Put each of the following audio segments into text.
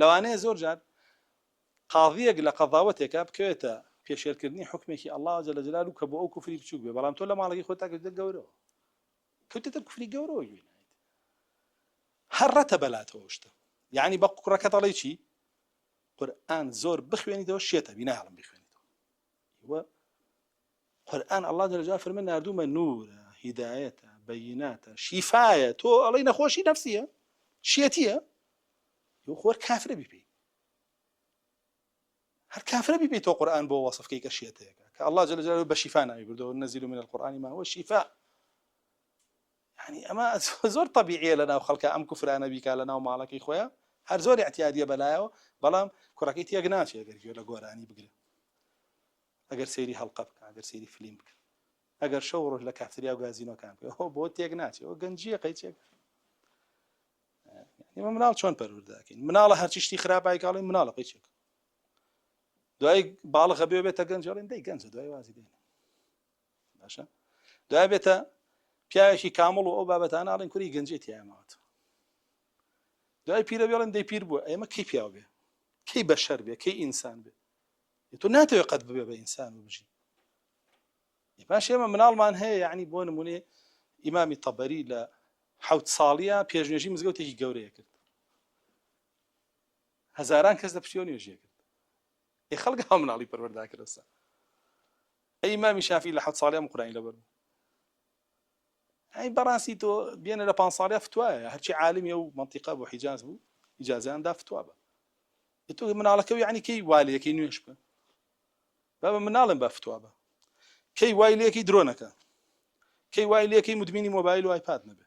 لەوانەیە زۆر جار قاضیەک لە قەضاوەتێکا بکەوێتە پێشێلکردنی حکمێکی اللە جل جلاله و کە بۆ ئەو کوفری بچوک بێ بەڵام تۆ لە ماڵەکەی خۆتا کردە گەورەوە کەوتێتە کوفری گەورەوە گوێ نایت هەر ڕەتە بەلاتەوە شتە یعنی بە کوڕەکە دەڵێ چی قورئان زۆر بخوێنیتەوە شێتە بیناڵم بخوێنیتەوە و قورئان اللە جل جلاله فەرمێ ناردوومە نورە هیدایەتە بەیناتە شیفایە تۆ ئەڵی نەخۆشی نەفسیە شێتیە یو خۆر کافرە بیپی هەر کافرە بیپی تۆ قورآن بۆ وەصفکەی کە شێتەیەەکە کە الله جل جلاله بە شیفا ناوی بردەوە نەزیل من القرآن ما هو شیفا یانی ئەمە زۆر تەبیعیە لە ناو خەڵکە ئەم کوفرانە بیکا لە ناو ماڵەکەی خۆیان هەر زۆر احتیادیە بەلایەوە بەڵام کوڕەکەی تێک ناچێ گەر گوێ لە گۆرانی بگرێ ئەگەر سەیری هەڵقە بکە ئەگەر سەیری فلیم بکە ئەگەر شەو ڕۆژ لە کافتریا و گازینۆکان بێ هۆ بۆ تێک ناچێ و گەنجیە قەیچێک ئمە مناڵ چۆن پەرورداکەین مناڵە هەرچیشتی خراپایکڵی مناڵە قەیچێک دوای باڵغە بێ بێتە گەنجڵین دەی گەنجە دوای وازی دێنە باشە دوای بێتە پیاوێکی کامڵ و ئەو بابەتانە ئاڵین کوری گەنجێت تیاماوەت دوای پیرە بێڵن دەی پیر بووە ئێمە کەی پیاو بێ کەی بەشەر بێ کەی ئینسان بێ تۆ ناتەوێ قەت ببێ بە ئینسان و بژی پاش ئێمە مناڵمان هەیە یعنی بۆ نمونێ ئیمامی تەبەری لە حوت ساڵیە پێشنێژی مزگەوتێکی گەورەیە کرد هەزاران کەس لە پشتیەوە نوێژیە کرد ئەی خەڵک ها مناڵی پەروەردا کرەسە ئەی مامی شافی لە حەوت ساڵیان قورانی لەبەر بوو ئەی بەڕاستی تۆ بێنە لە پان ساڵیا فتوایە هەرچی عالمی و منطقە بۆ حیجاز بوو ئیجازیان دا فتوا بە تۆ مناڵەکە و یعنی کەی والەکەی نوێش بە با بە مناڵم بە فتوا بە کەی وای لەکەی درۆنەکە کەی وای لەکەی مدمینی مۆبایل و آیپاد نەبێ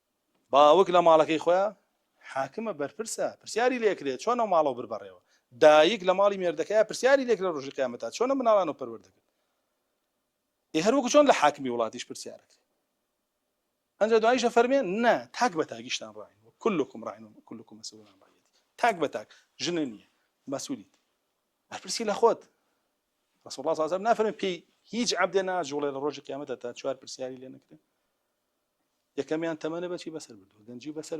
باوک لە ماڵەکەی خۆیا حاکمە، بەرپرسە، پرسیاری لێکرێ چۆن ئەو ماڵەو بر بەڕێوە، دایک لە ماڵی مێردەکەیا پرسیاری لێکرێ رۆژی قیامەتا چۆن ئەم مناڵانەو پەروەر دەکرد، ئێ هەر وەکو چۆن لە حاکمی وڵاتیش پرسیارەکرێ. ئەنجا دوایش ئەفەرمێ نا تاک بە تاکیشتان راین و کلکم راین و کلکم مسئول عن رعیتی تاک بە تاک ژنە نییە مەسولیت بەرپرسی لە خۆت رسول الله صلی الله علیه و سلم نافەرمێ پێی هیچ عەبدێ ناجوڵێ لە ڕۆژی قیامەتە تا چوار پرسیاری لێ نەکرێ یەکەمیان تەمەنە بەچی بەسەر بردووە گەنجی بەسەر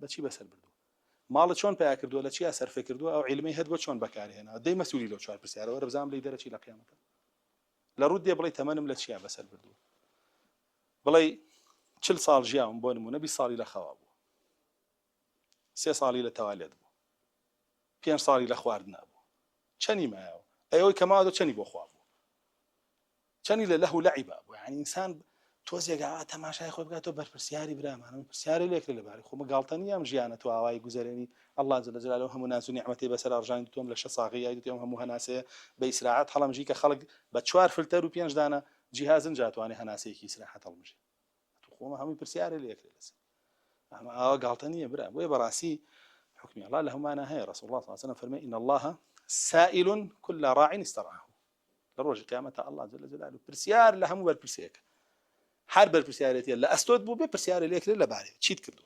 بەچی بەسەر بردووە ماڵە چۆن پیا کردووە لە چیا سەرفێ کردووە ئەو عیلمی هەت بۆ چۆن بەکارهێنا دەی مەسوولی لەو چوار پرسیارەوە رەبزام لی دەرەچی لە قیامەتە لە ڕوود دێ بڵی تەمەنم لە چیا بەسەر بردووە بڵێ چل ساڵ ژیاوم بۆ نمونە بی ساڵی لە خەوا بوو سێ ساڵی لە تەوالێت بوو پێنج ساڵی لە خواردنا بوو چەنی مایەوە ئەی ئەوی کە ماوە چەنی بۆ خوا بوو چەنی لە لەه و لەعیبا بوو یعنی ئینسان تۆزێک ئاوا تەماشای خۆی بکات تۆ بەرپرسیاری برامانە من پرسیاری لێکرێ لەبارەی خۆمە گاڵتە نییە ئەم ژیانە تو ئاوای گوزەرێنی الله جل جلاله هەموو ناز و نیعمەتی بەسەر ئەڕژانی دوتوم لە شە ساغی یای دوتێم هەموو هەناسەیە بە ئیسراعەت هەڵەمژی کە خەڵک بە چوار فلتەر و پێنج دانە جیهازن جاتوانێ هەناسەیەکی ئیسراحەت هەڵمژێ خۆمە هەمووی پرسیارە لە یەکێ لەسەر ئەمە ئاوا گاڵتە نییە برا بۆیە بەڕاستی حکمی الله لە هەمانە هەیە ڕسول الله ساسەە فەرمە ئین الله سائل كل راع استرعه لە ڕۆژی قیامەتە الله جل جلاله پرسیار لە هەموو بەرپرسێکە هەر بەرپرسیارێتە لە ئەستۆت بوو بێ پرسیارە لێکرێت لەبارەی چیت کردو